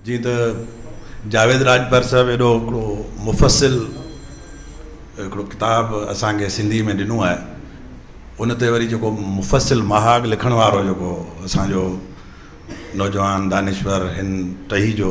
جيئن ته جاويد راڄپر صاحب ايڏو هڪڙو مفصل هڪڙو ڪتاب اسان کي سنڌي ۾ ڏنو آهي ان تي وري جيڪو مفصل مهاڳ لکڻ وارو جيڪو اسان جو نوجوان دانشور هن ٽهي جو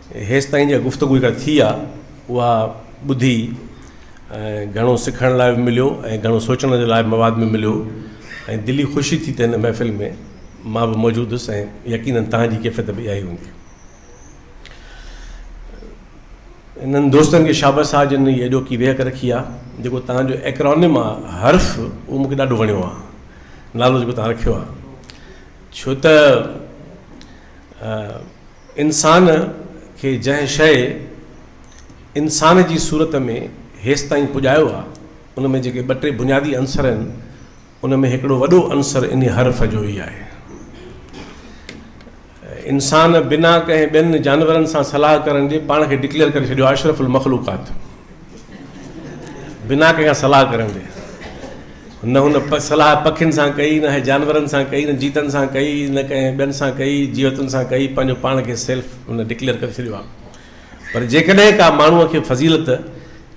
هيستائين جا گفتگو جيڪا ٿي آ اها ٻڌي گهڻو سکڻ لاء به مليو ۽ گهڻو سوچڻ جي لاء مواد به مليو ۽ دلي خوشي ٿي ته هن محفل ۾ مان به موجود هوس ۽ يقينن تهانجي ڪيفيت به اها ئي هوندي انهن دوستن کي شابس آ جن هي اڄوڪي ويهڪ رکي آ جيڪو تهانجو ايڪرانم آ حرف اهو مونکي ڏاڍو وڻيو آ نالو جيڪو تهان رکيو آ ڇو ته انسان کي جنهن شيء انسان جي صورت ۾ هيستائين پڄايو آ، ان ۾ جيڪي ٻه ٽي بنيادي عنصر آهن، ان ۾ هڪڙو وڏو عنصر انهي حرف جو ئي آهي. انسان بنا ڪنهن ٻين جانورن سان صلاح ڪرڻ جي پاڻ کي ڊڪليئر ڪري ڇڏيو آ اشرف المخلوقات. بنا ڪنهن کان صلاح ڪرندي نه هن صلاح پکين سان ڪئي نه جانورن سان ڪئي نه جيتن سان ڪئي نه ڪنهن ٻين سان ڪئي جيوتن سان ڪئي پنهنجو پاڻ کي سيلف هن ڊڪليئر ڪري ڇڏيو آهي پر جيڪڏهن ڪا ماڻهوء کي فضيلت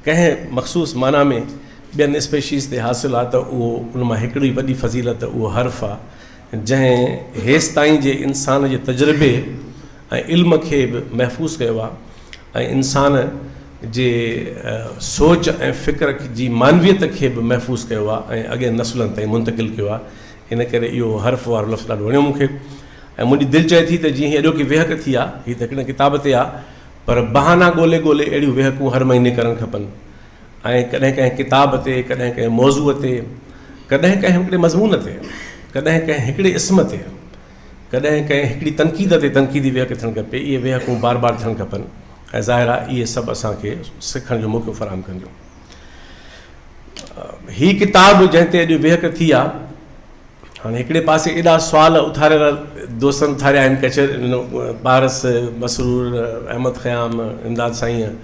ڪنهن مخصوص معنيٰ ۾ ٻين اسپيشيز تي حاصل آهي ته اهو ان مان هڪڙي وڏي فضيلت اهو حرف آهي جنهن هيستائين جي انسان جي تجربي ۽ علم کي به محفوظ ڪيو آهي ۽ انسان جي سوچ ۽ فڪر جي معنويت کي به محفوظ ڪيو آهي ۽ اڳين نسلن تائين منتقل ڪيو آهي ان ڪري اهو حرف وارو لفظ ڏاڍو وڻيو مون کي ۽ منهنجي دل چئي ٿي ته جيئن هي اڄوڪي ويهڪ ٿي آهي هي ته هڪڙي ڪتاب تي آهي پر بهانا ڳولي ڳولي اهڙيون ويهڪون هر مهيني ڪرڻ کپن ۽ ڪڏهن ڪنهن ڪتاب تي ڪڏهن ڪنهن موضوع تي ڪڏهن ڪنهن هڪڙي مضمون تي ڪڏهن ڪنهن هڪڙي اسم تي ڪڏهن ڪنهن هڪڙي تنقيد تي تنقيدي ويهڪ ٿيڻ کپي، اهي ويهڪون بار بار ٿيڻ کپن ۽ ظاهر آهي اهي سڀ اسان کي سکڻ جو موقعو فراهم ڪنديون. هي ڪتاب جنهن تي اڄ ويهڪ ٿي آهي، هاڻي هڪڙي پاسي ايڏا سوال اٿاريل دوستن اٿاريا آهن، ڪچهري پارس، مسرور، احمد خيام، امداد سائين،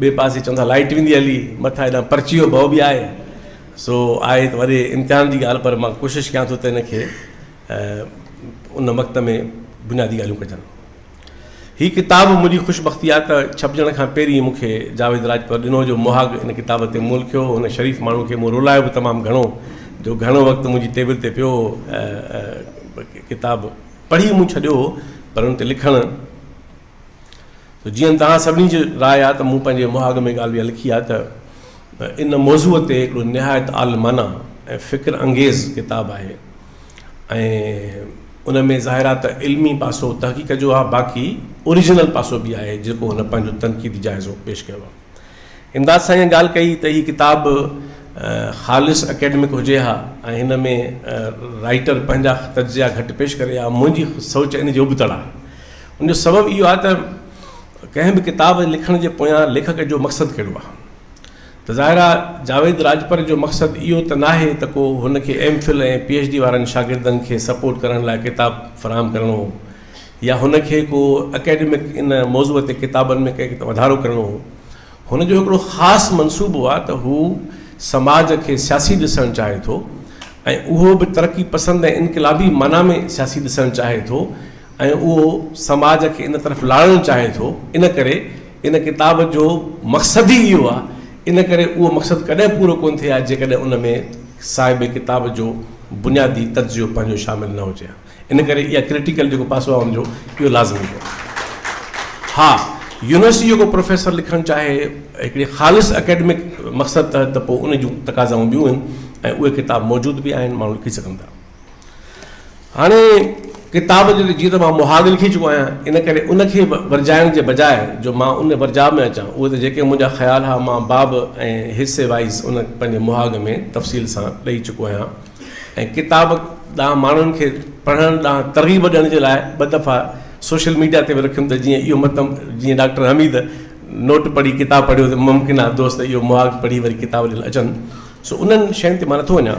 ٻئي پاسي چون ٿا لائيٽ ويندي هلي، مٿان هيڏانهن پرچي جو ڀؤ به آهي، سو آهي ته وڏي امتحان جي ڳالهه پر مان ڪوشش ڪيان ٿو ته ان کي ۽ ان وقت ۾ بنيادي ڳالهيون ڪجن. هي ڪتاب منهنجي خوش بختي آهي ته ڇپجڻ کان پهرين مون کي جاويد راجپر ڏنو جو مهاڳ ان ڪتاب تي مول کيو هو. هن شريف ماڻهو کي مون رولايو به تمام گهڻو جو گهڻو وقت منهنجي ٽيبل تي پيو هو. ڪتاب پڙهي مون ڇڏيو هو پر ان تي لکڻ ته جيئن توهان سڀني جي راء آهي ته مون پنهنجي مهاڳ ۾ ڳالهه اها لکي آهي ته ان موضوع تي هڪڙو نهايت عالمانه ۽ فڪر انگيز ڪتاب آهي. ۽ ان ۾ ظاهر آهي ته علمي پاسو تحقيق جو آهي باقي اوريجنل پاسو به آهي جيڪو هن پنهنجو تنقيدي جائزو پيش ڪيو آهي امداد سائين ائين ڳالهه ڪئي ته هي ڪتاب خالص اڪيڊمڪ هجي ها ۽ هن ۾ رائيٽر پنهنجا تجزيا گهٽ پيش ڪري ها منهنجي سوچ ان جي ابتڙ آهي ان جو سبب اهو آهي ته ڪنهن به ڪتاب لکڻ جي پويان ليکڪ جو مقصد ڪهڙو آهي ته ظاهر آ جاويد راڄپر جو مقصد اهو ته ناهي ته ڪو هن کي M Phil ۽ P H D وارن شاگردن کي سپورٽ ڪرڻ لاء ڪتاب فراهم ڪرڻو هو يا هن کي ڪو اڪيڊمڪ ان موضوع تي ڪتابن ۾ ڪنهن وڌارو ڪرڻو هو هن جو هڪڙو خاص منصوبو آ ته هو سماج کي سياسي ڏسڻ چاهي ٿو ۽ اهو به ترقي پسند ۽ انقلابي معنيٰ ۾ سياسي ڏسڻ چاهي ٿو ۽ اهو سماج کي ان طرف لاڙڻ چاهي ٿو ان ڪري ان ڪتاب جو مقصد ئي اهو آهي، ان ڪري اهو مقصد ڪڏهن پورو ڪونه ٿئي ها جيڪڏهن ان ۾ صاحب ڪتاب جو بنيادي تجزيو پنهنجو شامل نه هجي ها. ان ڪري اها ڪرٽيڪل جيڪو پاسو آهي ان جو اهو لازمي هو. ها يونيورسٽي جو ڪو پروفيسر لکڻ چاهي هڪڙي خالص اڪيڊمڪ مقصد تحت ته پوء ان جون تقاضائون ٻيون آهن ۽ اهي ڪتاب موجود به آهن ماڻهو لکي سگهن ٿا. هاڻي ڪتاب جو جيئن ته مان مهاڳ لکي چڪو آهيان، ان ڪري ان کي ورجائڻ جي بجاء جو مان ان ورجاء ۾ اچان، اهو ته جيڪي منهنجا خيال ها مان باب ۽ حصي وائيز ان پنهنجي مهاڳ ۾ تفصيل سان ڏئي چڪو آهيان ۽ ڪتاب ڏانهن ماڻهن کي پڙهڻ ڏانهن ترغيب ڏيڻ جي لاء ٻه دفعا سوشل ميڊيا تي به رکيم ته جيئن اهو مطلب جيئن ڊاڪٽر حميد نوٽ پڙهي ڪتاب پڙهيو ته ممڪن آهي دوست اهو مهاڳ پڙهي وري ڪتاب ڏيڻ اچن سو انهن شين تي مان نٿو وڃان.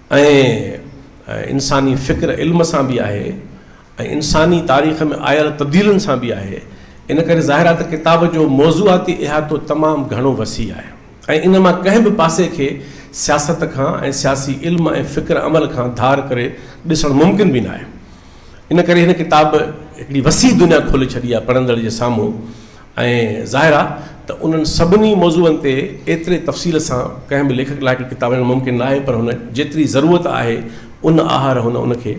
۽ انساني فڪر علم سان به آهي ۽ انساني تاريخ ۾ آيل تبديلين سان به آهي ان ڪري ظاهر آهي ته ڪتاب جو موضوعاتي احاطو تمام گهڻو وسيع آهي ۽ ان مان ڪنهن به پاسي کي سياست کان ۽ سياسي علم ۽ فڪر عمل کان ڌار ڪري ڏسڻ ممڪن به ناهي ان ڪري هن ڪتاب هڪڙي وسيع دنيا کولي ڇڏي آهي پڙهندڙ جي سامهون ۽ ظاهر آ ته انهن سڀني موضوعن تي ايتري تفصيل سان ڪنهن به ليکڪ لاء هڪ ڪتاب لکڻ ممڪن ناهي پر هن جيتري ضرورت آهي ان آهر هن ان کي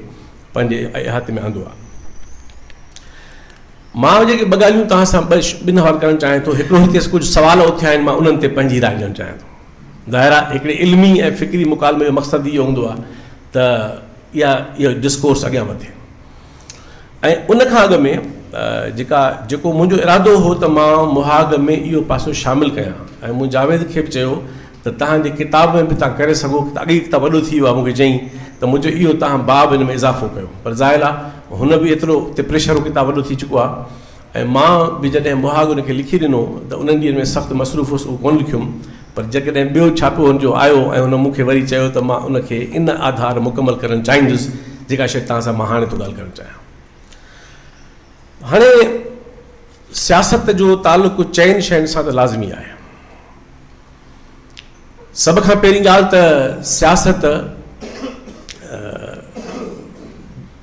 پنهنجي احاطي ۾ آندو آ. مان جيڪي ٻه ڳالهيون توهان سان ٻن حوالي ڪرڻ چاهيان ٿو هڪڙو هتي ڪجهه سوال اٿيا آهن مان انهن تي پنهنجي راء ڏيڻ چاهيان ٿو. ظاهر آ هڪڙي علمي ۽ فڪري مڪالمي جو مقصد ئي اهو هوندو آ ته اها اهو ڊسڪورس اڳيان وڌي. ۽ ان کان اڳ ۾ جيڪا جيڪو منهنجو ارادو هو ته مان مهاڳ ۾ اهو پاسو شامل ڪيان ۽ مون جاويد کي به چيو ته تهان جي ڪتاب ۾ به تهان ڪري سگهو ته اڳ ئي ڪتاب وڏو ٿي ويو آهي مون کي چيائين ته منهنجو اهو تهان باب ان ۾ اضافو ڪيو پر ظاهر آهي هن به ايترو اتي پريشر هو ڪتاب وڏو ٿي چڪو آهي ۽ مان به جڏهن مهاڳن کي لکي ڏنو ته انهن ڏينهن ۾ سخت مصروف هوس اهو ڪونه لکيم پر جيڪڏهن ٻيو ڇاپو هن جو آيو ۽ هن مون کي وري چيو ته مان ان کي ان آڌار مڪمل ڪرڻ چاهيندس جيڪا شيء توهان سان مان هاڻي ٿو ڳالهه ڪرڻ چاهيان. هاڻي سياست جو تعلق چئن شين سان ته لازمي آهي. سڀ کان پهرين ڳالهه ته سياست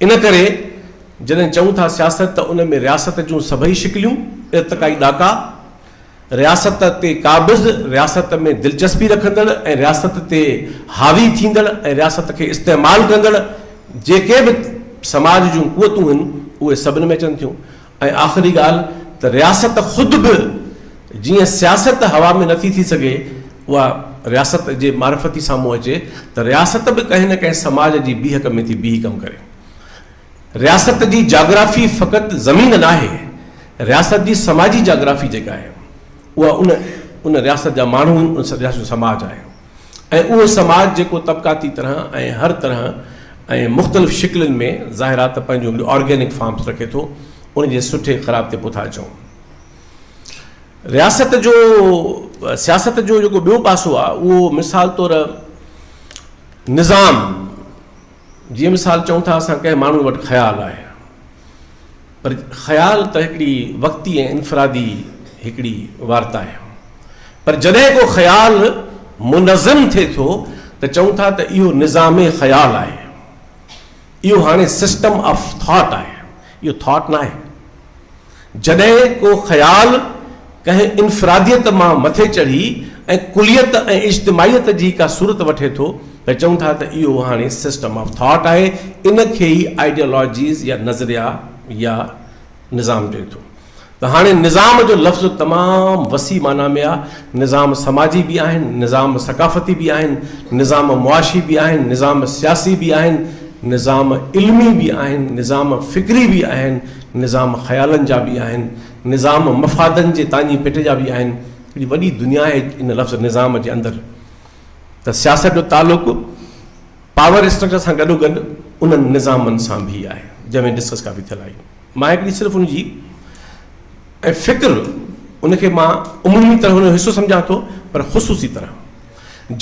ان ڪري جڏهن چئون ٿا سياست ته ان ۾ رياست جون سڀئي شڪليون ارتقائي ڏاڪا، رياست تي قابض، رياست ۾ دلچسپي رکندڙ ۽ رياست تي حاوي ٿيندڙ ۽ رياست کي استعمال ڪندڙ جيڪي به سماج جون قوتون هن اهي سڀن ۾ اچن ٿيون. ۽ آخري ڳالهه ته رياست خود به جيئن سياست هوا ۾ نٿي ٿي سگهي اها رياست جي معرفتي سامهون اچي ته رياست به ڪنهن نه ڪنهن سماج جي بيهڪ ۾ ٿي بيهي ڪم ڪري. رياست جي جاگرافي فقط زمين ناهي، رياست جي سماجي جاگرافي جيڪا آهي اها ان ان رياست جا ماڻهو ان رياست جو سماج آهي. ۽ اهو سماج جيڪو طبقاتي طرح ۽ هر طرح ۽ مختلف شڪلين ۾ ظاهرا ته پنهنجون به آرگينڪ فارمز رکي ٿو ان جي سٺي خراب تي پوٿا چئون. رياست جو سياست جو جيڪو ٻيو پاسو آهي اهو مثال طور نظام جي مثال چئون ٿا اسان ڪنهن ماڻهو وٽ خيال آهي پر خيال ته هڪڙي وقتي ۽ انفرادي هڪڙي وارتا آهي. پر جڏهن ڪو خيال منظم ٿئي ٿو ته چئون ٿا ته اهو نظام خيال آهي. اهو هاڻي سسٽم آف ٿاٽ آهي. اهو ٿاٽ ناهي. جڏهن ڪو خيال ڪنهن انفراديت مان مٿي چڙهي ۽ ڪليت ۽ اجتماعيت جي ڪا صورت وٺي ٿو ته چئون ٿا ته اهو هاڻي سسٽم آف ٿاٽ آهي، ان کي ئي آئيڊيالاجيز يا نظريا يا نظام چئي ٿو ته هاڻي نظام جو لفظ تمام وسيع معنيٰ ۾ آ، نظام سماجي به آهن، نظام ثقافتي به آهن، نظام معاشي به آهن، نظام سياسي به آهن، نظام علمي به آهن، نظام فڪري به آهن، نظام خيالن جا به آهن، نظام مفادن جي تاڃي پٽ جا به آهن. هڪڙي وڏي دنيا آهي ان لفظ نظام جي اندر ته سياست جو تعلق پاور اسٽرڪچر سان گڏو گڏ انهن نظامن سان به آهي جنهن ۾ ڊسڪس ڪافي ٿيل آهي مان هڪڙي صرف ان جي ۽ فڪر ان کي مان عمومي طرح ان جو حصو سمجھان ٿو پر خصوصي طرح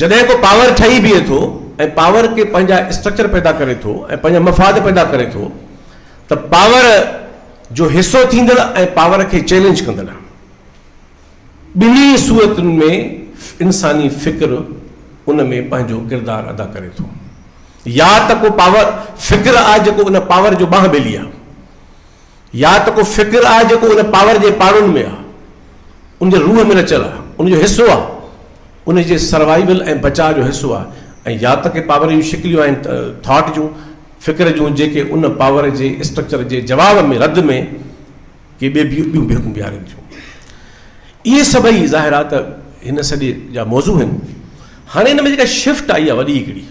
جڏهن کو پاور ٺهي بيهي ٿو ۽ پاور کي پنهنجا اسٽرڪچر پيدا ڪري ٿو ۽ پنهنجا مفاد پيدا ڪري ٿو ته پاور جو حصو ٿيندڙ ۽ پاور کي چئلينج ڪندڙ ٻنهي صورتن ۾ انساني فڪر ان ۾ پنهنجو ڪردار ادا ڪري ٿو. يا ته ڪو پاور فڪر آهي جيڪو ان پاور جو ٻانهن ٻيلي آهي يا ته ڪو فڪر آهي جيڪو ان پاور جي پاڙن ۾ آهي، ان جي روح ۾ رچيل آهي، ان جو حصو آهي، ان جي سروائيول ۽ بچاء جو حصو آهي ۽ يا ته ڪي پاور جون شڪليون آهن ٿاٽ جون، فڪر جون جيڪي ان پاور جي اسٽرڪچر جي جواب ۾ رد ۾ ڪي ٻي بي ٻيون بيهڪون بيهارين ٿيون. اهي سڀئي ظاهرات هن سڏي جا موضوع آهن. هاڻي ان ۾ جيڪا شفٽ آئي آهي وڏي هڪڙي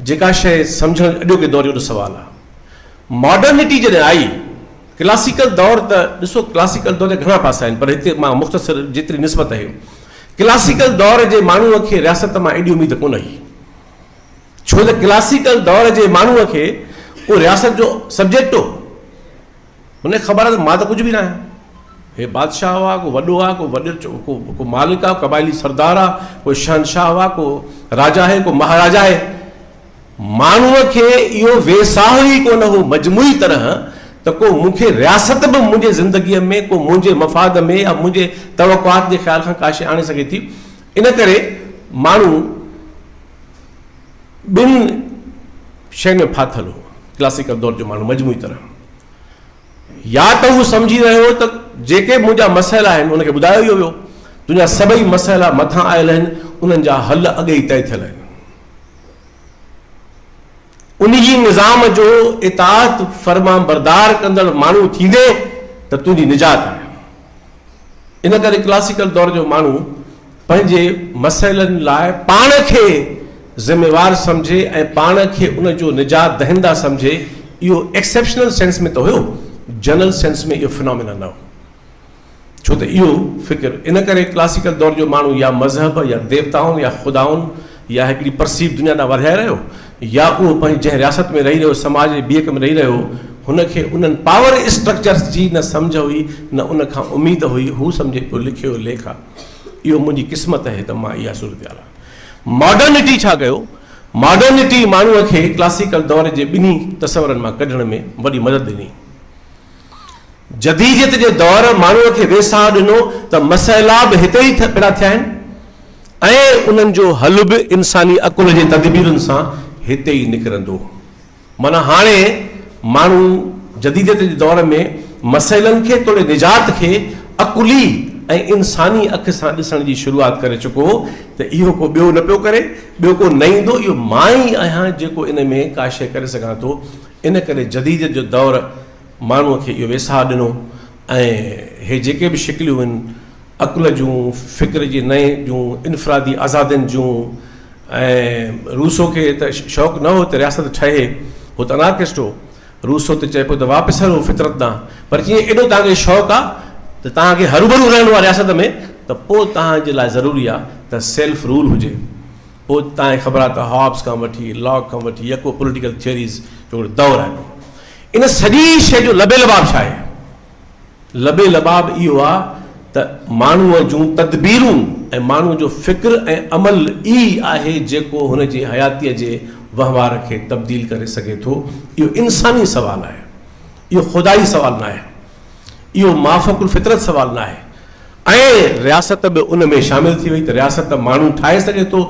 جيڪا شيء سمجهڻ اڄوڪي دور جو سوال آهي. ماڊرنٽي جڏهن آئي ڪلاسيڪل دور ته ڏسو ڪلاسيڪل دور جا گهڻا پاسا آهن پر هتي مان مختصر جيتري نسبت آهي ڪلاسيڪل دور جي ماڻهوء کي رياست مان ايڏي اميد ڪونه هئي. ڇو ته ڪلاسيڪل دور جي ماڻهوء کي ڪو رياست جو سبجيڪٽ هو. هن کي خبر آهي ته مان ته ڪجهه به نه آهيان. هي بادشاهه هئا، ڪو وڏو آهي، ڪو وڏو ڪو ڪو مالڪ آهي، قبائلي سردار آهي، ڪو شهنشاهه هئا، ڪو راجا آهي، ڪو مهاراجا آهي. ماڻهوء کي اهو ويساهه ئي ڪونه هو مجموعي طرح ته ڪو مون کي رياست به منهنجي زندگيء ۾ ڪو منهنجي مفاد ۾ يا منهنجي توقعات جي خيال کان ڪاشي آڻي سگهي ٿي. ان ڪري ماڻهو ٻن شين ۾ ڦاٿل هو. ڪلاسيڪل دور جو ماڻهو مجموعي طرح يا ته هو سمجهي رهيو هو ته جيڪي منهنجا مسئلا آهن ان کي ٻڌايو ئي ويو، تنهنجا سڀئي مسئلا مٿان آيل آهن، انهن جا حل اڳي ئي طئي ٿيل آهن. انهيء نظام جو اطاعت فرمانبردار ڪندڙ ماڻهو ٿيندين ته تنهنجي نجات آهي. ان ڪري ڪلاسيڪل دور جو ماڻهو پنهنجي مسئلن لاء پاڻ کي ذميوار سمجهي ۽ پاڻ کي ان جو نجات دهنده سمجهي، اهو ايڪسيپشنل سينس ۾ ته هيو، جنرل سينس ۾ اهو فنامينا نه هو. ڇو ته اهو فڪر ان ڪري ڪلاسيڪل دور جو ماڻهو يا مذهب يا ديوتائن يا خدائن يا هڪڙي پرسيپ دنيا ڏانهن ورهائي رهيو يا اهو پنهنجي جنهن رياست ۾ رهي رهيو سماج جي ٻيڪ ۾ رهي رهيو هو هن کي انهن پاور اسٽرڪچرس جي نه سمجهه هئي نه ان کان اميد هئي هو سمجهي پيو لکيو ليک آ اهو منهنجي قسمت اهي ته مان اها صورتحال آ ماڊرنٽي ڇا ڪيو ماڊرنٽي ماڻهو کي ڪلاسيڪل دور جي ٻنهي تصورن مان ڪڍڻ ۾ وڏي مدد ڏني جديديت جي دور ماڻهو کي ويساهه ڏنو ته مسئلا به هتي ئي پيدا ٿيا آهن ۽ انهن جو حل به انساني عقل جي تدبيرن سان هتي ئي نڪرندو. معنيٰ هاڻي ماڻهو جديديت جي دور ۾ مسئلن کي توڙي نجات کي عقلي ۽ انساني اک سان ڏسڻ جي شروعات ڪري چڪو هو ته اهو ڪو ٻيو نه پيو ڪري، ٻيو ڪو نه ايندو، اهو مان ئي آهيان جيڪو ان ۾ ڪاشي ڪري سگهان ٿو، ان ڪري جديديت جو دور. ماڻهوء کي اهو ويساهه ڏنو ۽ هي جيڪي به شڪليون هن عقل جون، فڪر جي نئين جون، انفرادي آزادين جون ۽ روسو کي ته شوق نه هو ته رياست ٺهي، هو ته انارڪسٽ هو، روسو ته چئي پيو ته واپس هلو فطرت ڏانهن، پر جي ايڏو توهان کي شوق آ ته توهان کي هروڀرو رهڻو آ رياست ۾ ته پوء توهان جي لاء ضروري آ ته سيلف رول هجي. پوء توهان کي خبر آ ته هابز کان وٺي لاڪ کان وٺي يڪو پوليٽيڪل ٿيوريز جو دور آهي. ان سڄي شيء جو لبي لباب ڇا آهي؟ لبي لباب اهو آهي ته ماڻهوء جون تدبيرون ۽ ماڻهوء جو فڪر ۽ عمل ئي آهي جيڪو هن جي حياتيء جي وهنوار کي تبديل ڪري سگهي ٿو. اهو انساني سوال آهي. اهو خدائي سوال ناهي. اهو مافوق الفطرت سوال ناهي. ۽ رياست به ان ۾ شامل ٿي وئي ته رياست ماڻهو ٺاهي سگهي ٿو،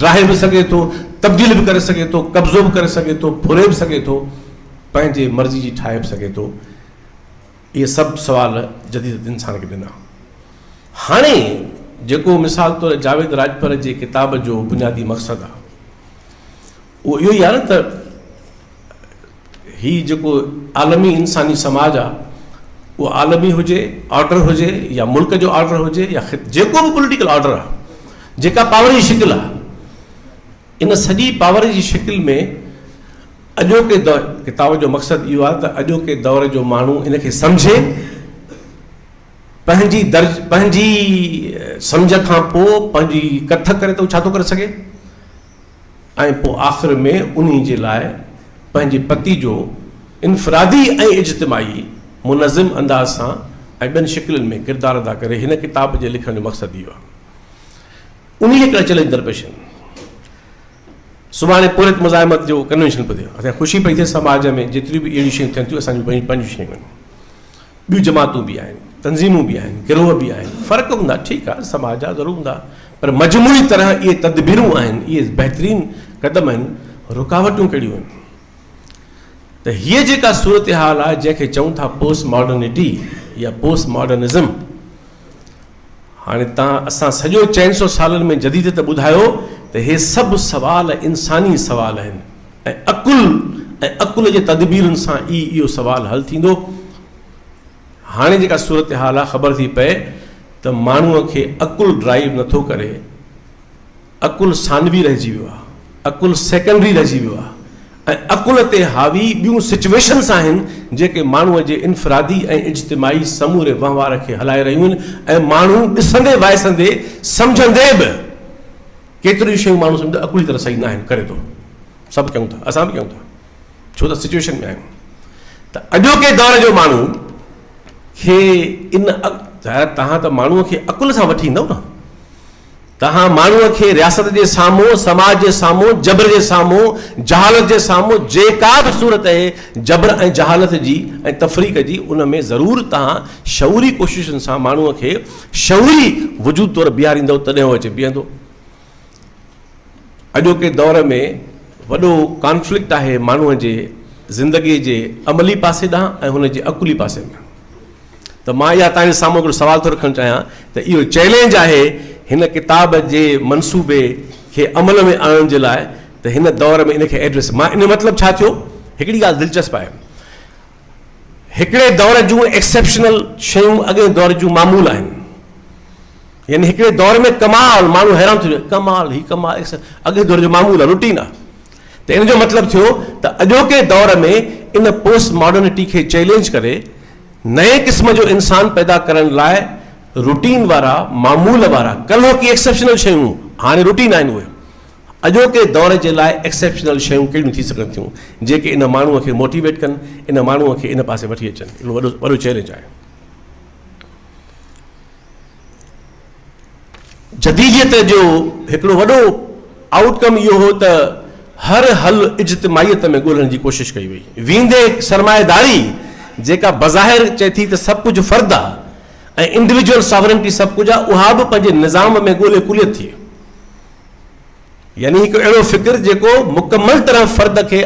ڊاهي به سگهي ٿو، تبديل به ڪري سگهي ٿو، قبضو به ڪري سگهي ٿو، ڦري به سگهي ٿو، پنهنجي مرضي جي ٺاهي به سگهي ٿو. اهي سڀ سوال جديد انسان کي ڏنا. هاڻي جيڪو مثال طور جاويد راڄپر جي ڪتاب جو بنيادي مقصد آهي اهو اهو ئي آهي نه ته، هي جيڪو عالمي انساني سماج آ اهو عالمي هجي آرڊر هجي يا ملڪ جو آرڊر هجي يا جيڪو به پوليٽيڪل آرڊر آ جيڪا پاور جي شڪل آ ان سڄي پاور جي شڪل ۾ اڄوڪي دور ڪتاب جو مقصد اهو آ ته اڄوڪي دور جو ماڻهو ان کي سمجهي پنهنجي درج پنهنجي سمجهه کان پوء پنهنجي ڪٿ ڪري ته هو ڇا ٿو ڪري سگهي ۽ پوء آخر ۾ انهي جي لاء پنهنجي پتي جو انفرادي ۽ اجتماعي منظم انداز سان ۽ ٻين شڪلين ۾ ڪردار ادا ڪري هن ڪتاب جي لکڻ جو مقصد اهو آهي انهي جي ڪري چئلينج درپيش آهن سڀاڻي پورهيت مزاحمت جو ڪنوينشن پڌيو اسان خوشي پئي ٿئي سماج ۾ جيتريون به اهڙيون شيون ٿين ٿيون اسان جون پنهنجون شيون آهن ٻيون جماعتون به آهن، تنظيمون به آهن، گروهه به آهن، فرق هوندا، ٺيڪ آهي، سماج جا ضرور هوندا، پر مجموعي طرح اهي تدبيرون آهن، اهي بهترين قدم آهن، رڪاوٽون ڪهڙيون آهن؟ ته هيء جيڪا صورتحال آهي، جنهن کي چئون ٿا پوسٽ ماڊرنٽي يا پوسٽ ماڊرنزم، هاڻي تان اسان سڄو چئن سئو سالن ۾ جديد ته ٻڌايو ته هي سڀ سوال انساني سوال آهن ۽ عقل ۽ عقل جي تدبيرن سان ئي اهو سوال حل ٿيندو. هاڻي جيڪا صورتحال آهي خبر ٿي پئي ته ماڻهوء کي عقل ڊرائيو نٿو ڪري. عقل ثانوي رهجي ويو آهي، عقل سيڪنڊري رهجي ويو آهي ۽ عقل تي حاوي ٻيون سچويشنس آهن جيڪي ماڻهوء جي انفرادي ۽ اجتماعي سموري وهنوار کي هلائي رهيون آهن ۽ ماڻهو ڏسندي وائسندي سمجهندي به ڪيتريون شيون ماڻهو سمجهندو عقلي طرح صحيح ناهن ڪري ٿو سڀ ڪيون ٿا اسان به ڪيون ٿا ڇو ته سچويشن ۾ آهيون ته اڄوڪي دور جو ماڻهو کي ان ظاهر تهان ته ماڻهوء کي عقل سان وٺي ايندو نه تنهن ماڻهوء کي رياست جي سامهون، سماج جي سامهون، جبر جي سامهون، جهالت جي سامهون جيڪا به صورت اهي جبر ۽ جهالت جي ۽ تفريق جي ان ۾ ضرور توهان شعوري ڪوششن سان ماڻهوء کي شعوري وجود طور بيهاريندؤ تڏهن هو اچي بيهندو. اڄوڪي دور ۾ وڏو ڪانفلڪٽ آهي ماڻهوء جي زندگي جي عملي پاسي ڏانهن ۽ هن جي عقلي پاسي ڏانهن. ته مان اها توهان جي سامهون هڪڙو سوال ٿو رکڻ چاهيان ته اهو چئلينج آهي هن ڪتاب جي منصوبي کي عمل ۾ آڻڻ جي لاء ته هن دور ۾ ان کي ايڊريس مان ان مطلب ڇا ٿيو هڪڙي ڳالهه دلچسپ آهي هڪڙي دور جون ايڪسيپشنل شيون اڳئين دور جون معمول آهن يعني هڪڙي دور ۾ ڪمال ماڻهو حيران ٿيو ڪمال هي ڪمال اڳئين دور جو معمول روٽين آهي ته ان جو مطلب ٿيو ته اڄوڪي دور ۾ ان پوسٽ ماڊرنٽي کي چئلينج ڪري نئين قسم جو انسان پيدا ڪرڻ لاء روٽين وارا، معمول وارا، ڪلهه ڪي ايڪسيپشنل شيون هاڻي روٽين آهن اهي اڄوڪي دور جي لاء ايڪسيپشنل شيون ڪهڙيون ٿي سگهن ٿيون جيڪي ان ماڻهوء کي موٽيويٽ ڪن، ان ماڻهوء کي ان پاسي وٺي اچن. اهو وڏو چئلينج آهي. جديديت جو هڪڙو وڏو آئوٽ ڪم اهو هو ته هر حل اجتماعيت ۾ ڳولڻ جي ڪوشش ڪئي وئي ويندي سرمائيداري جيڪا بظاهر چئي ٿي ته سڀ ڪجهه فرد آ ۽ انڊويجوئل ساورنٽي سڀ ڪجهه آ اها به پنهنجي نظام ۾ ڳولي ڪليت ٿئي. يعني هڪ اهڙو فڪر جيڪو مڪمل طرح فرد کي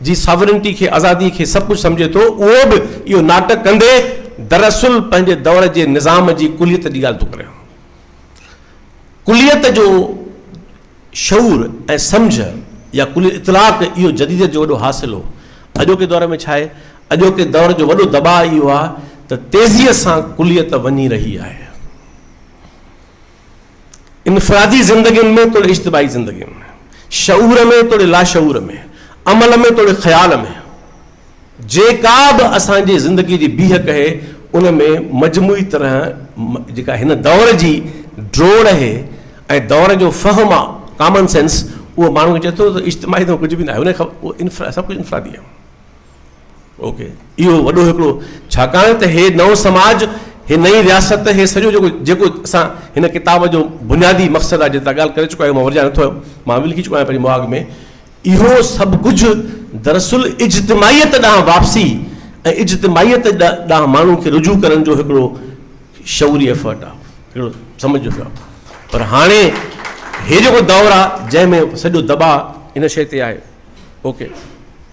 جي ساورنٽي کي آزادي کي سڀ ڪجهه سمجهي ٿو اهو به اهو ناٽڪ ڪندي دراصل پنهنجي دور جي نظام جي ڪليت جي ڳالهه ٿو ڪري. ڪليت جو شعور ۽ سمجهه يا ڪليت اطلاق اهو جديديت جو وڏو حاصل هو. اڄوڪي دور ۾ ڇا آهي؟ اڄوڪي دور جو وڏو دٻاء اهو آهي ته تيزيء سان ڪليت وڃي رهي آهي. انفرادي زندگين ۾ توڙي اجتماعي زندگين ۾، شعور ۾ توڙي لاشعور ۾، عمل ۾ توڙي خيال ۾، جيڪا به اسان جي زندگي جي بيهه ڪهي ان ۾ مجموعي طرح جيڪا هن دور جي ڊوڙ اهي ۽ دور جو فهم آ ڪامن سينس اهو ماڻهو چئي ٿو ته اجتماعي ته ڪجهه به ناهي سڀ ڪجهه انفرادي آهي. اوڪي اهو وڏو هڪڙو ڇاڪاڻ ته هي نئون سماج هي نئين رياست هي سڄو جيڪو جيڪو اسان هن ڪتاب جو بنيادي مقصد آهي جي تان ڳالهه ڪري چڪا آهيون مان ورجائي نٿو آيم مان به لکي چڪو آهيان پنهنجي مهاڳ ۾ اهو سڀ ڪجهه دراصل اجتماعيت ڏانهن واپسي ۽ اجتماعيت ڏانهن ماڻهو کي رجوع ڪرڻ جو هڪڙو شعوري ايفرٽ آهي هڪڙو سمجھ جو آهي پر هاڻي هي جيڪو دور آهي جنهن ۾ سڄو دٻاء ان شيء تي آهي اوڪي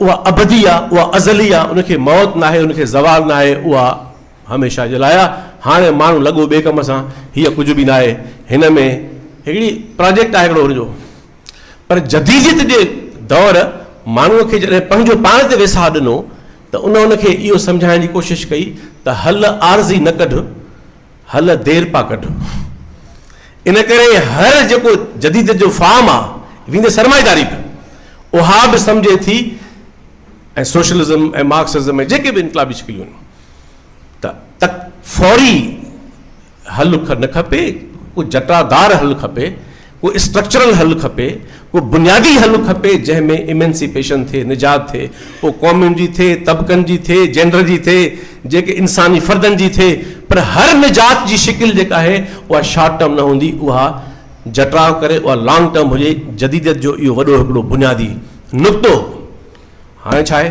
اها ابدي آ، اها ازلي آ، ان کي موت ناهي، ان کي زوال ناهي، اها هميشه جي لاء آ. هاڻي ماڻهو لڳو ٻئي ڪم سان، هيء ڪجهه به ناهي، هن ۾ هڪڙي پراجيڪٽ آهي هڪڙو هن جو. پر جديديت جي دور ماڻهوء کي جڏهن پنهنجو پاڻ تي ويساهه ڏنو ته ان ان کي اهو سمجهائڻ جي ڪوشش ڪئي ته حل عارضي نه ڪڍ، هل دير پا ڪڍ. ان ڪري هر جيڪو جديد جو فارم آ ويندي سرمائيداري به اها به سمجهي ٿي ۽ سوشلزم ۽ مارڪسزم ۽ جيڪي به انقلابي شڪليون آهن ته تڪ فوري حل نه کپي ڪو جٽادار حل کپي ڪو اسٽرڪچرل حل کپي، ڪو بنيادي حل کپي جنهن ۾ ايمنسيپيشن ٿئي، نجات ٿئي، پوء قومن جي ٿئي، طبقن جي ٿئي، جينڊر جي ٿئي، جيڪي انساني فردن جي ٿئي پر هر نجات جي شڪل جيڪا آهي اها شارٽ ٽرم نه هوندي اها جٽراء ڪري اها لانگ ٽرم هجي جديديت جو اهو وڏو هڪڙو بنيادي نقطو هاڻي ڇا آهي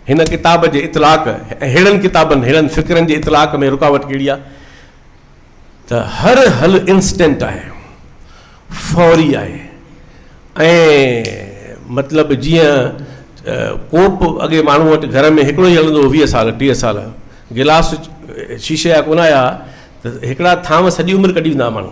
هن ڪتاب جي اطلاق ۽ ههڙن ڪتابن ههڙن فڪرن جي اطلاق ۾ رڪاوٽ ڪهڙي آهي ته هر حل انسٽنٽ آهي، فوري آهي ۽ مطلب جيئن ڪوپ اڳي ماڻهو وٽ گهر ۾ هڪڙو ئي هلندو هو ويهه سال ٽيهه سال، گلاس شيشي جا ڪونه آيا ته هڪڙا ٿانو سڄي عمر ڪڍي ويندا هئا ماڻهو.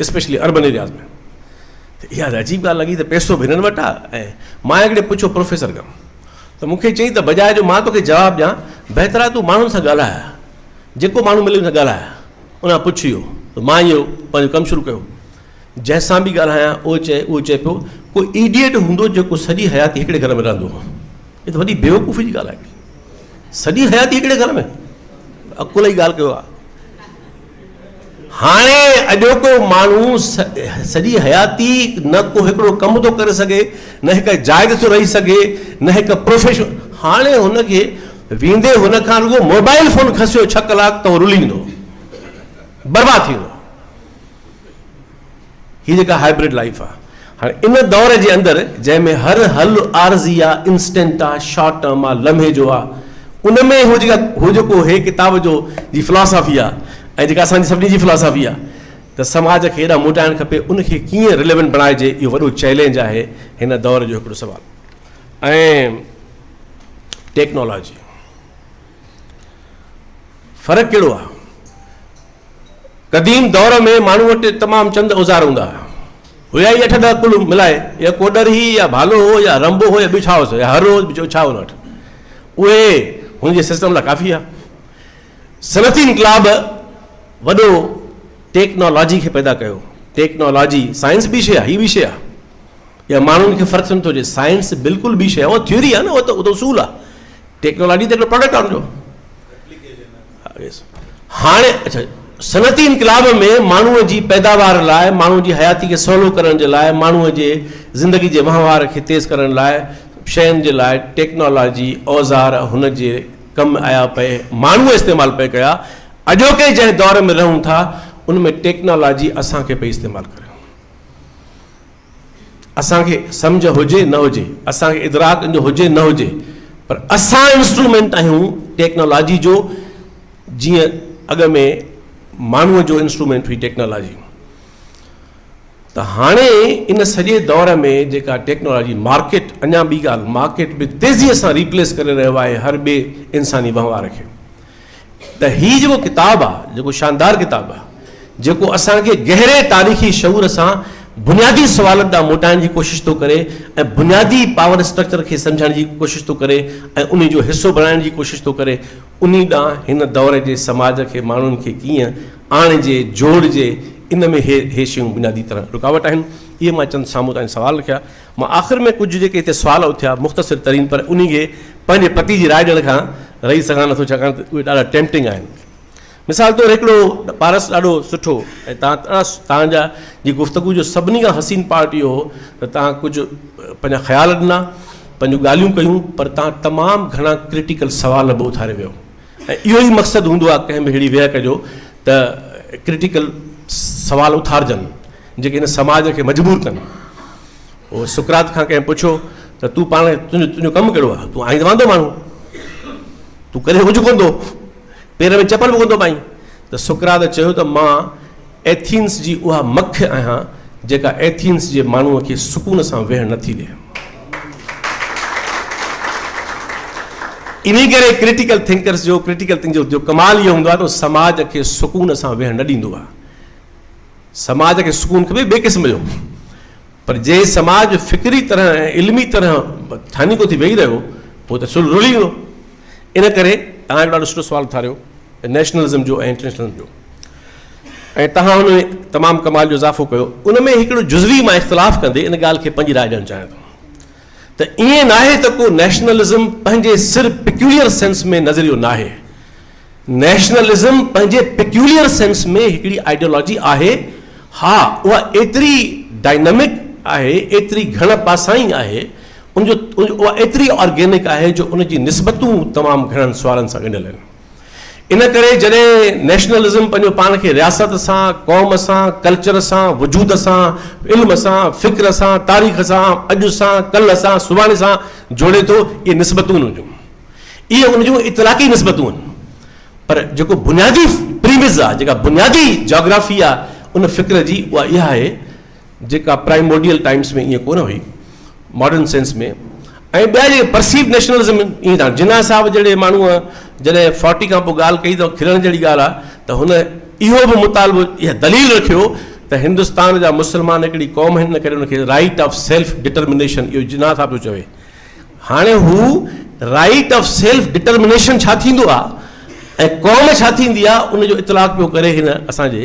اسپيشلي اربن ايرياز ۾ ته اها ته عجيب ڳالهه لڳي ته پيسو به هنن وٽ آهي ۽ مان هڪڙي پڇيو پروفيسر کان ته مون کي چئي ته بجاء جو مان توکي جواب ڏيان بهتر آهي تون ماڻهن سان ڳالهاء جيڪو ماڻهو ملي ان سان ڳالهاء ان کان پڇ اهو ته مان اهو پنهنجو ڪم شروع ڪيو جنهن سان به ڳالهايان اهو چئي اهو چئي پيو ڪو ايڊيٽ هوندو جيڪو سڄي حياتي هڪڙي گهر ۾ رهندو هو هي ته وڏي بيوقوفي جي ڳالهه آهي سڄي حياتي هڪڙي گهر ۾ عقل جي ڳالهه ڪيو آهي هاڻي اڄوڪو ماڻهو سڄي حياتي نه ڪو هڪڙو ڪم ٿو ڪري سگهي، نه هڪ جاء تي ٿو رهي سگهي، نه هڪ پروفيشن، هاڻي هن کي ويندي هن کان رڳو موبائل فون کسيو ڇهه ڪلاڪ ته هو رلي ويندو، برباد ٿي ويندو. هي جيڪا هائبرڊ لائيف آ هاڻي ان دور جي اندر جنهن ۾ هر حل عارضي آ انسٽنٽ آ شارٽ ٽرم آ لمحي جو آ ان ۾ هو جيڪا هو جيڪو هي ڪتاب جو جي فلاسافي آ ۽ جيڪا اسان جي سڀني جي فلاسافي آ ته سماج کي هيڏانهن موٽائڻ کپي ان کي ڪيئن رليونٽ بڻائجي اهو وڏو چئلينج آهي هن دور جو هڪڙو سوال ۽ ٽيڪنالاجي فرق ڪهڙو آهي؟ قديم دور ۾ ماڻهو وٽ تمام چند اوزار هوندا هيا هي اٺ ڏهه ڪل ملائي يا ڪوڏر هي يا ڀالو هو يا رنبو هو يا ٻيو ڇا هو يا هر هو ٻيو ڇا هو وٽ اهي هن جي سسٽم لاء ڪافي آهي صنعتي انقلاب وڏو ٽيڪنالاجي کي پيدا ڪيو ٽيڪنالاجي سائنس بي شي آهي هي بي شي آهي يا ماڻهن کي فرق سمجھ ٿو اچي سائنس بلڪل بي شي آهي اهو ٿيوري آهي نه اهو ته اصول آهي ٽيڪنالاجي ته هڪڙو پروڊڪٽ آهي ان جو هاڻي اچھا صنعتي انقلاب ۾ ماڻهوء جي پيداوار لاء ماڻهوء جي حياتي کي سولو ڪرڻ جي لاء ماڻهوء جي زندگي جي وهنوار کي تيز ڪرڻ لاء شين جي لاء ٽيڪنالاجي اوزار هن جي ڪم آيا پئي ماڻهوء استعمال پئي ڪيا اڄوڪي جنهن دور ۾ رهون ٿا ان ۾ ٽيڪنالاجي اسان کي پئي استعمال ڪري اسان کي سمجهه هجي نه هجي، اسان کي ادراڪ ان جو هجي نه هجي پر اسان انسٽرومينٽ آهيون ٽيڪنالاجي جو جيئن اڳ ۾ ماڻهوء جو انسٽرومينٽ هئي ٽيڪنالاجي. ته هاڻي ان سڄي دور ۾ جيڪا ٽيڪنالاجي مارڪيٽ اڃا ٻي ڳالهه مارڪيٽ به تيزيء سان ريپليس ڪري رهيو آهي هر ٻئي انساني وهنوار کي. ته هي جيڪو ڪتاب آ، جيڪو شاندار ڪتاب آ، جيڪو اسان کي گهري تاريخي شعور سان بنيادي سوالن ڏانهن موٽائڻ جي ڪوشش ٿو ڪري ۽ بنيادي پاور اسٽرڪچر کي سمجهڻ جي ڪوشش ٿو ڪري ۽ انهي جو حصو بڻائڻ جي ڪوشش ٿو ڪري، انهي ڏانهن هن دور جي سماج کي ماڻهن کي ڪيئن آڻجي، جوڙجي، ان ۾ هي هي شيون بنيادي طرح رڪاوٽ آهن. اهي مان چند سامهون تان سوال رکيا. مان آخر ۾ ڪجهه جيڪي هتي سوال اٿيا مختصر ترين پر انهي کي پنهنجي پتي جي راء ڏيڻ کان رهي سگهان نٿو ڇاڪاڻ ته اهي ڏاڍا ٽيمپٽنگ آهن مثال طور هڪڙو پارس ڏاڍو سٺو ۽ تان تان جا جي گفتگو جو سڀني کان حسين پارٽ اهو هو ته تان ڪجهه پنهنجا خيال ڏنا پنهنجون ڳالهيون ڪيون پر تان تمام گهڻا ڪرٽيڪل سوال به اٿاري ويو ۽ اهو ئي مقصد هوندو آهي ڪنهن به اهڙي ويهڪ جو ته ڪرٽيڪل سوال اٿارجن جيڪي هن سماج کي مجبور ڪن. هو سقراط کان ڪنهن پڇيو ته تون پاڻ تنهنجو تنهنجو ڪم ڪهڙو آهي؟ تون آهين ته واندو ماڻهو. تون ڪڏهن اجهو ڪونه ٿو پير ۾ چپل به ڪونه ٿو پائين. ته سقراط چيو ته مان ايٿينس جي اها مک آهيان جيڪا ايٿينس جي ماڻهوء کي سڪون سان ويهڻ نه ٿي ڏي. انهي ڪري ڪرٽيڪل ٿنڪرس جو ڪرٽيڪل ٿنڪرس جو ڪمال اهو هوندو آهي ته سماج کي سڪون سان ويهڻ نه ڏيندو آهي. سماج کي سڪون کپي ٻئي قسم جو پر جي سماج فڪري طرح ۽ علمي طرح ٿانيڪو ٿي ويهي رهيو پوء ته سل رلي ويندو. ان ڪري توهان هڪ ڏاڍو سٺو سوال اٿاريو نيشنلزم جو ۽ انٽرنيشنلزم جو. ۽ توهان ان ۾ تمام ڪمال جو اضافو ڪيو، ان ۾ هڪڙو جزوي مان اختلاف ڪندي ان ڳالهه کي پنهنجي راء ڏيڻ چاهيان ٿو ته ائين ناهي ته ڪو نيشنلزم پنهنجي سر پيڪيوليئر سينس ۾ نظريو ناهي، نيشنلزم پنهنجي پيڪيوليئر سينس ۾ هڪڙي آئيڊيالاجي آهي، ها اها ايتري ڊائنامڪ آهي، ايتري گهڻ پاسائين آهي، ان جو اها ايتري آرگينڪ آهي جو ان جي نسبتون تمام گهڻن سوالن سان ڳنڍيل آهن. ان ڪري جڏهن نيشنلزم پنهنجو پاڻ کي رياست سان، قوم سان، ڪلچر سان، وجود سان، علم سان، فڪر سان، تاريخ سان، اڄ سان، ڪلهه سان، سڀاڻي سان جوڙي ٿو، اهي نسبتون هونديون. اهي ان جون اطلاقي نسبتون آهن. پر جيڪو بنيادي پريمز آهي، جيڪا بنيادي جاگرافي آهي ان فڪر جي اها اها آهي، جيڪا پرائمورڊيل ٽائمس ۾ ائين ڪونه هئي، ماڊرن سينس ۾، ۽ ٻيا جيڪي پرسيوڊ نيشنلزم ائين ٿا. جناح صاحب جهڙي ماڻهوء جڏهن فورٽي کان پوء ڳالهه ڪئي ته کلڻ جهڙي ڳالهه آهي ته هن اهو به مطالبو، اها دليل رکيو ته هندستان جا مسلمان هڪڙي قوم آهن ان ڪري ان کي رائيٽ آف سيلف ڊٽرمنيشن اهو جناح صاحب پيو چوي. هاڻي هو رائيٽ آف سيلف ڊٽرمنيشن ڇا ٿيندو آهي ۽ قوم ڇا ٿيندي آهي ان جو اطلاق پيو ڪري هن اسان جي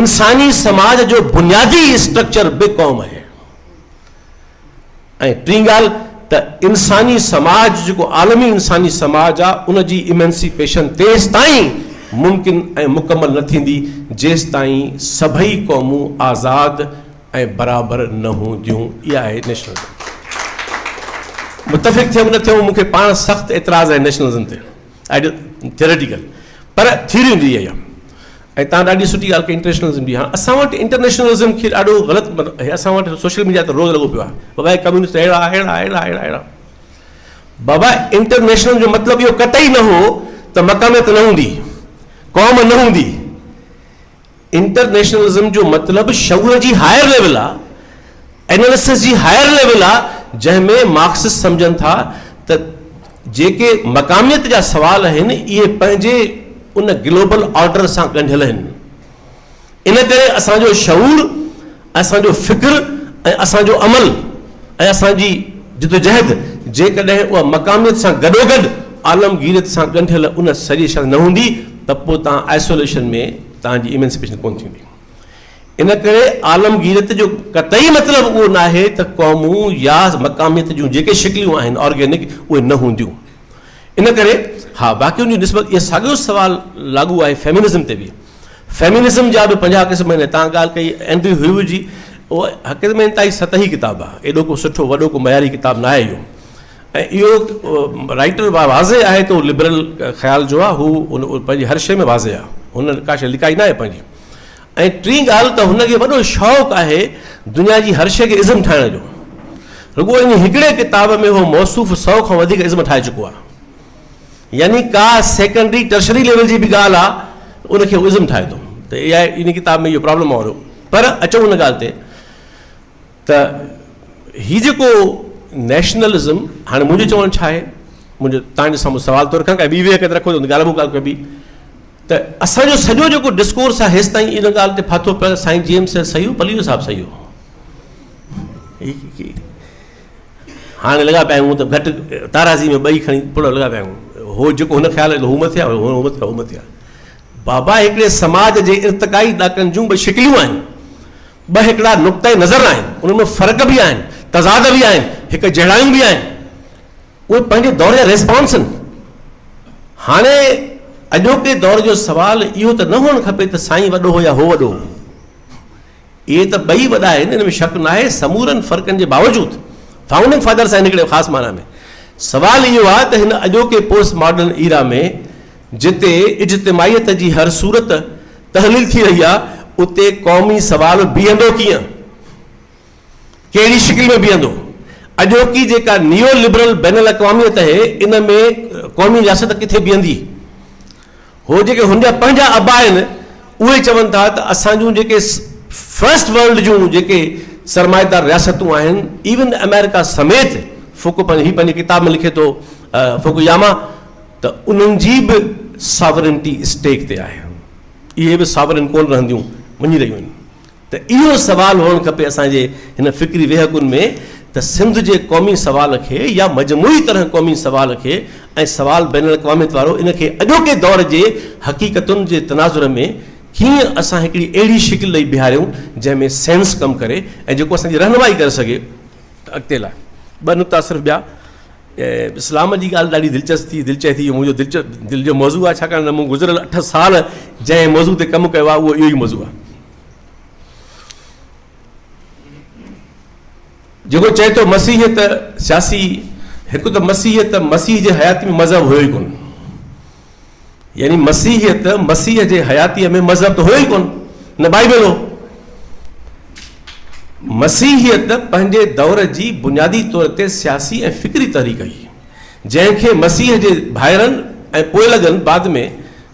انساني سماج جو بنيادي اسٽرڪچر به قوم آهي ۽ ٽين ڳالهه ته انساني سماج جيڪو عالمي انساني سماج آ ان جي ايمنسيپيشن تيستائين ممڪن ۽ مڪمل نه ٿيندي جيستائين سڀئي قومون آزاد ۽ برابر نه هونديون اها آهي نيشنلزم متفق ٿيون نه ٿيون مون کي پاڻ سخت اعتراض آهي نيشنلزم تي آئڊيل ٿيوريٽيڪل پر ٿيوري هوندي اها ئي آهي ۽ تان ڏاڍي سٺي ڳالهه ڪئي انٽرنيشنلزم جي هاڻ اسان وٽ انٽرنيشنلزم کي ڏاڍو غلط مطلب اسان وٽ سوشل ميڊيا تي روز لڳو پيو آهي بابا هي ڪميونسٽ اهڙا اهڙا اهڙا اهڙا اهڙا بابا انٽرنيشنل جو مطلب اهو قطعي نه هو ته مقاميت نه هوندي قوم نه هوندي انٽرنيشنلزم جو مطلب شعور جي هائر ليول آ، اناليسس جي هائر ليول آ، جنهن ۾ مارڪسسٽ سمجهن ٿا ته جيڪي مقاميت جا سوال آهن اهي پنهنجي ان گلوبل آرڊر سان ڳنڍيل آهن. ان ڪري اسان جو شعور. اسان جو فڪر ۽ اسان جو عمل ۽ اسان جي جدوجهد جيڪڏهن اها مقاميت سان گڏوگڏ عالمگيريت سان ڳنڍيل ان سڄي شيء نه هوندي ته پوء توهان آئسوليشن ۾ توهان جي ايمنسپيشن ڪونه ٿيندي. ان ڪري عالمگيريت جو قطعي مطلب اهو ناهي ته قومون يا مقاميت جون جيڪي شڪليون آهن آرگينڪ اهي نه هونديون. ان ڪري ها باقي ان جي نسبت اهو ساڳيو سوال لاڳو آهي فيمنزم تي به. فيمينزم جا به پنجاهه قسم آهن، تان ڳالهه ڪئي اينڊري هيوو جي، اهو حقيقت ۾ انتهائي سطحي ڪتاب آهي، ايڏو ڪو سٺو وڏو ڪو معياري ڪتاب ناهي اهو ۽ اهو رائيٽر واضح آهي ته اهو لبرل خيال جو آهي، هو پنهنجي هر شيء ۾ واضح آهي، هن ڪا شيء لڪائي ناهي پنهنجي. ۽ ٽين ڳالهه ته هن کي وڏو شوق آهي دنيا جي هر شيء کي ازم ٺاهڻ جو، رڳو ان هڪڙي ڪتاب ۾ اهو موصوف سئو کان وڌيڪ ازم ٺاهي چڪو آهي. يعني ڪا سيڪنڊري ٽرشري ليول جي به ڳالهه آ ته ان کي هو ازم ٺاهي ٿو ته اي آء ان ڪتاب ۾ اهو پرابلم آ وريو پر اچون ان ڳالهه تي ته هي جيڪو نيشنلزم هاڻي منهنجو چوڻ ڇا آهي منهنجو تان جو سامهون سوال ٿو رکان ڪا ٻي ويهه ڪت رکو ته ڳالهه ٻو ڳالهه ڪبي ته اسان جو سڄو جيڪو ڊسڪورس آ هيس تائين ان ڳالهه تي ڦاٿو پيل سائين جيمس سيو پليو صاحب سيو هاڻي لڳا پيا آهيون ته گهٽ تارازي ۾ ٻئي کڻي پڙ لڳا پيا آهيون. هو جيڪو هن خيال ۾ هو مٿي آهي، هو مٿي آهي، هو مٿي آهي. بابا هڪڙي سماج جي ارتقائي ڏاڪن جون ٻه شڪليون آهن. ٻه هڪڙا نقطه نظر آهن. انهن ۾ فرق به آهن، تضاد به آهن، هڪ جهڙايون به آهن. اهي پنهنجي دور جا ريسپانس آهن. هاڻي اڄوڪي دور جو سوال اهو ته نه هئڻ کپي ته سائين وڏو هو يا هو وڏو هو. اهي ته ٻئي وڏا آهن، ان ۾ شڪ ناهي، سمورن فرقن جي باوجود فائونڊنگ فادرس آهن هڪڙي خاص معنيٰ ۾. سوال اهو آهي ته هن اڄوڪي پوسٽ ماڊرن ايرا ۾ جتي اجتماعيت جي هر صورت تحليل ٿي رهي آهي اتي قومي سوال بيهندو ڪيئن؟ ڪهڙي شڪل ۾ بيهندو؟ اڄوڪي جيڪا نيو لبرل بين الاقواميت اهي ان ۾ قومي رياست ڪٿي بيهندي؟ هو جيڪي هن جا پنهنجا ابا آهن اهي چون ٿا ته اسان جون جيڪي فرسٽ ورلڊ جون جيڪي سرمائيدار رياستون آهن ايون آمريڪا سميت فوڪو پنهنجي هي پنهنجي ڪتاب ۾ لکي ٿو فوڪوياما ته انهن جي به ساورنٽي اسٽيڪ تي آهي اهي به ساورن ڪون رهنديون وڃي رهيون آهن ته اهو سوال هئڻ کپي اسان جي هن فڪري ويهڪن ۾ ته سنڌ جي قومي سوال کي يا مجموعي طرح قومي سوال کي ۽ سوال بين الاقواميت وارو ان کي اڄوڪي دور جي حقيقتن جي تناظر ۾ ڪيئن اسان هڪڙي اهڙي شڪل ڏئي بيهاريون جنهن ۾ سينس ڪم ڪري ۽ جيڪو اسان جي رهنمائي ڪري سگهي. ته اڳتي لاء ٻه نقطا صرف ٻيا ته اسلام جي ڳالهه ڏاڍي دلچسپ ٿي دلچي ٿي منهنجو دلچ دل جو موضوع آهي ڇاڪاڻ ته مون گذريل اٺ سال جنهن موضوع تي ڪم ڪيو آهي اهو اهو ئي موضوع آهي جيڪو چئي ٿو مسيحيت سياسي هڪ ته مسيحيت مسيح جي حياتي ۾ مذهب هيو ئي ڪون يعني مسيحيت مسيح جي حياتيء ۾ مذهب ته هيو ئي ڪون نه بائبل هو مسيحيت پنهنجي دور جي بنيادي طور تي سياسي ۽ فڪري تحريڪ هئي جنهن کي مسيح جي ڀائرن ۽ پوئلڳن بعد ۾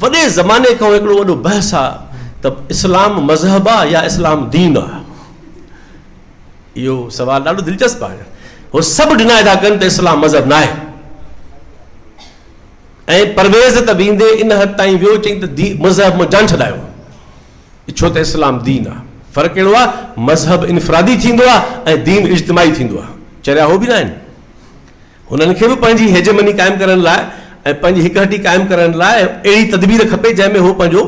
وڏي زماني کان هڪڙو وڏو بحث آ ته اسلام مذهب آ يا اسلام دين آ. اهو سوال ڏاڍو دلچسپ آهي. هو سڀ ڊناء ٿا ڪن ته اسلام مذهب ناهي. ۽ پرويز ته ويندي ان حد تائين ويو چئي ته مذهب مان جان ڇڏايو. ڇو ته اسلام دين آ. فرق اهڙو آ مذهب انفرادي ٿيندو آ ۽ دين اجتماعي ٿيندو آ. چريا هو به ناهن. هنن کي به پنهنجي هيجمني قائم ڪرڻ لاء ۽ پنهنجي هڪهٽي قائم ڪرڻ لاء اهڙي تدبير کپي جنهن ۾ هو پنهنجو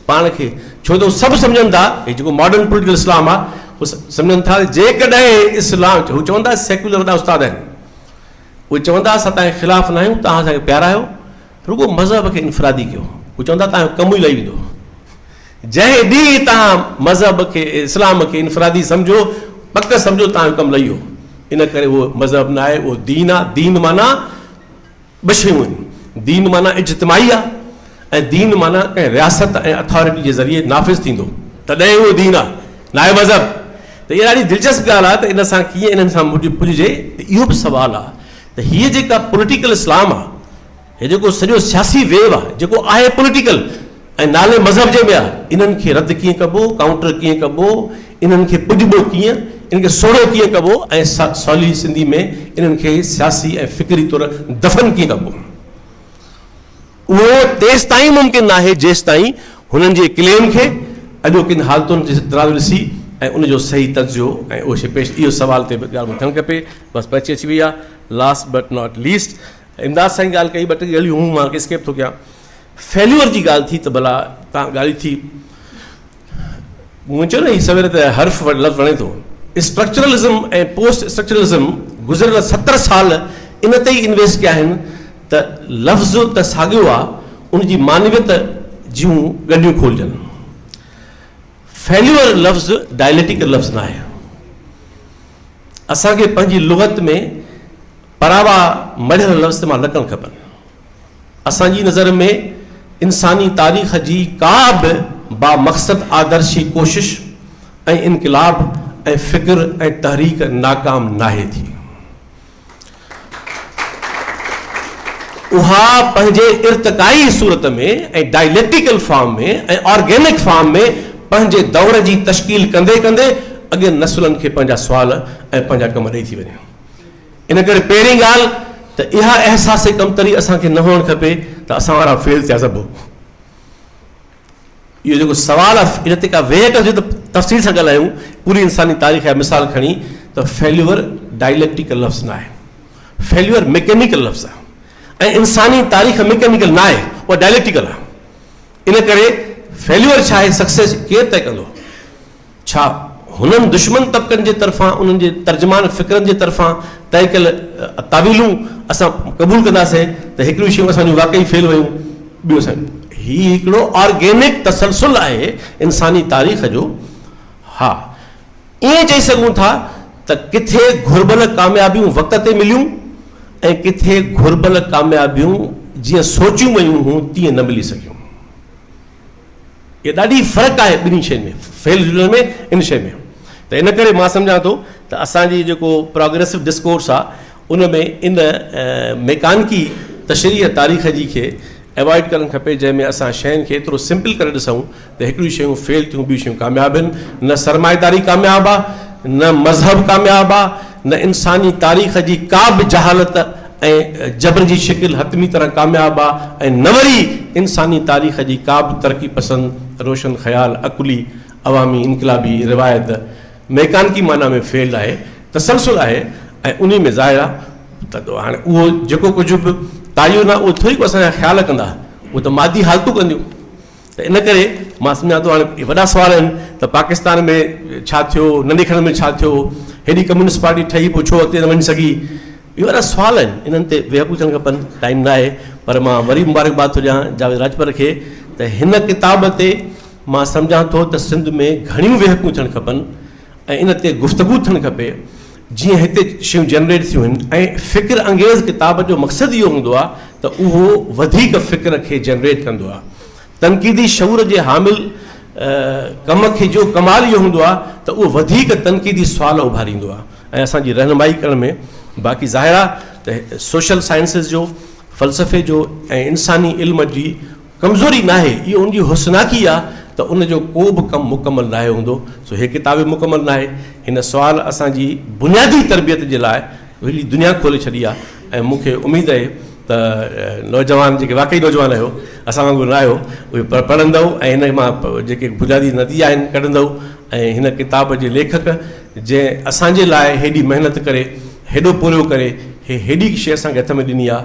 پاڻ کي ڇو ته هو سڀ سمجهن ٿا هي جيڪو ماڊرن پوليٽيڪل اسلام آهي هو سمجهن ٿا ته جيڪڏهن اسلام هو چون ٿا سيڪيولر وڏا استاد آهن اهي چون ٿا اسان تنهنجي خلاف ناهيون تنهن اسان کي پيارا آهيو رڳو مذهب کي انفرادي ڪيو. هو چوندا توهان جو ڪم ئي لهي ويندو. جنهن ڏينهن توهان مذهب کي، اسلام کي انفرادي سمجهو، پڪ سمجهو توهان جو ڪم لهي ويو. ان ڪري اهو مذهب نه آهي، اهو دين آهي. دين معنيٰ ٻه شيون آهن. دين معنيٰ اجتماعي آهي ۽ دين معنيٰ ڪنهن رياست ۽ اٿارٽي جي ذريعي نافذ ٿيندو، تڏهن ئي اهو دين آهي، ناهي مذهب. ته اها ڏاڍي دلچسپ ڳالهه آهي ته ان سان ڪيئن انهن سان پڄجي؟ ته اهو به سوال آهي. ته هيء جيڪا پوليٽيڪل اسلام آ، هي جيڪو سڄو سياسي ويو آ، جيڪو آهي پوليٽيڪل ۽ نالي مذهب جي ۾ آ، انهن کي رد ڪيئن ڪبو، ڪائونٽر ڪيئن ڪبو، انهن کي پڄبو ڪيئن، انهن کي سوڙهيو ڪيئن ڪبو ۽ سولي سنڌي ۾ انهن کي سياسي ۽ فڪري طور دفن ڪيئن ڪبو. اهو تيستائين ممڪن ناهي جيستائين هنن جي ڪليم کي اڄوڪين حالتن جي ترازو ڏسي ۽ ان جو صحيح تجزيو ۽ اهو شيء پيش اهو سوال تي به ڳالهه مون کي ٿيڻ کپي بس پهچي اچي وئي آهي last but not least Imdad Sain ڳالهه ڪئي ٻه ٽي ڳالهيون هون مان اسڪيپ ٿو ڪيان فيليور جي ڳالهه ٿي ته ڀلا تان ڳالهي ٿي مون چيو نه هي سوير ته حرف لفظ وڻي ٿو. اسٽرڪچرلزم ۽ پوسٽ اسٽرڪچرلزم گذريل ستر سال ان تي ئي انويسٽ ڪيا آهن ته لفظ ته ساڳيو آ ان جي معنويت جون ڳنڍيون کولجن. فيليور لفظ ڊائليٽيڪل لفظ ناهي. اسان کي پنهنجي لغت ۾ پراوا مڙهيل لفظ استعمال نه ڪرڻ کپن. اسان جي نظر ۾ انساني تاريخ جي ڪا به بامقصد آدرشي ڪوشش ۽ انقلاب ۽ فڪر ۽ تحريڪ ناڪام ناهي ٿي. اها پنهنجي ارتقائي صورت ۾ ۽ ڊائليڪٽيڪل فارم ۾ ۽ آرگينڪ فارم ۾ پنهنجي دور جي تشڪيل ڪندي ڪندي اڳين نسلن کي پنهنجا سوال ۽ پنهنجا ڪم ڏئي ٿي وڃي. ان ڪري پهرين ڳالهه ته اها احساس ڪمتري اسان کي نه هئڻ کپي ته اسان وارا فيل ٿيا سڀ. اهو جيڪو سوال آهي ان تي ڪا ويهه ڪجي ته تفصيل سان ڳالهايون. پوري انساني تاريخ جا مثال کڻي ته فيليور ڊائليڪٽيڪل لفظ نه آهي. فيليور ميڪينيڪل لفظ آهي ۽ انساني تاريخ ميڪينيڪل نه آهي، اها ڊائليڪٽيڪل آهي. ان ڪري فيليور ڇا آهي، سڪسيس ڪير طئي ڪندو؟ ڇا هنن دشمن طبقن جي طرفان انهن جي ترجمان فڪرن جي طرفان طئي ڪيل تعويلون اسان قبول ڪنداسين ته هڪڙيون شيون اسان جون واقعي فيل ويون ٻيون اسان هي هڪڙو آرگينڪ تسلسل آهي انساني تاريخ جو ها ائين چئي سگهون ٿا ته ڪٿي گهربل ڪاميابيون وقت تي مليون ۽ ڪٿي گهربل ڪاميابيون جيئن سوچيون ويون هون تيئن نه ملي سگهيون. اهي ڏاڍي فرق آهي ٻنهي شين ۾ فعل جملن ۾ ان شين ۾ ته ان ڪري مان سمجهان ٿو ته اسان جي جيڪو پروگريسو ڊسڪورس آهي ان ۾ ان ميڪانڪي تشريح تاريخ جي کي اوائڊ ڪرڻ کپي جنهن ۾ اسان شين کي ايترو سمپل ڪري ڏسون ته هڪڙيون شيون فيل ٿيون ٻيون شيون ڪامياب آهن نه سرمائيداري ڪامياب آهي نه مذهب ڪامياب آهي نه انساني تاريخ جي ڪا به جهالت ۽ جبر جي شڪل حتمي طرح ڪامياب آ ۽ نه وري انساني تاريخ جي ڪابه ترقي پسند، روشن خيال، عقلي، عوامي، انقلابي روايت ميڪانڪي معنيٰ ۾ فعل آهي، تسلسل آهي ۽ انهي ۾ ظاهر آ ته هاڻي اهو جيڪو ڪجهه به ڪايو نه اهو ٿوري ڪو اسان جا خيال ڪندا اهو ته مادي حالتون ڪنديون. ته ان ڪري مان سمجهان ٿو هاڻي اهي وڏا سوال آهن ته پاڪستان ۾ ڇا ٿيو، ننڍي کڻ ۾ ڇا ٿيو، هيڏي ڪميونسٽ پارٽي ٺهي پوء ڇو اڳتي نه وڃي سگهي، اهي وڏا سوال آهن انهن تي ويهڪو ٿيڻ کپن، ٽائيم نه آهي پر مان وري مبارڪباد ٿو ڏيان جاويد راڄپر کي ته هن ڪتاب تي مان سمجهان ٿو ته سنڌ ۾ گهڻيون ويهڪون ٿيڻ کپن ۽ ان تي گفتگو ٿيڻ کپي جيئن هتي شيون جنريٽ ٿيون هن ۽ فڪر انگيز ڪتاب جو مقصد اهو هوندو آهي ته اهو وڌيڪ فڪر کي جنريٽ ڪندو آهي تنقيدي شعور جي حامل ڪم کي جو ڪمال اهو هوندو آهي ته اهو وڌيڪ تنقيدي سوال اڀاريندو آهي ۽ اسان جي رهنمائي ڪرڻ ۾ باقي ظاهر آهي ته سوشل سائنسز جو فلسفي جو ۽ انساني علم جي ڪمزوري ناهي، اهو ان جي حسناڪي آهي ته ان جو ڪو به ڪم مڪمل ناهي هوندو، سو هيء ڪتاب به مڪمل ناهي. هن سوال اسان جي بنيادي تربيت جي لاء وڏي دنيا کولي ڇڏي آهي ۽ مون کي اميد اهي ته نوجوان جيڪي واقعي نوجوان آهيو، اسان وانگر نه آهيو، اهي پڙهندؤ ۽ هن مان جيڪي بنيادي نتيجا آهن ڪڍندؤ ۽ هن ڪتاب جي ليکڪ جنهن اسان جي لاء هيڏي محنت ڪري هيڏو پورهيو ڪري هيء هيڏي شيء اسان کي هٿ ۾ ڏني آهي،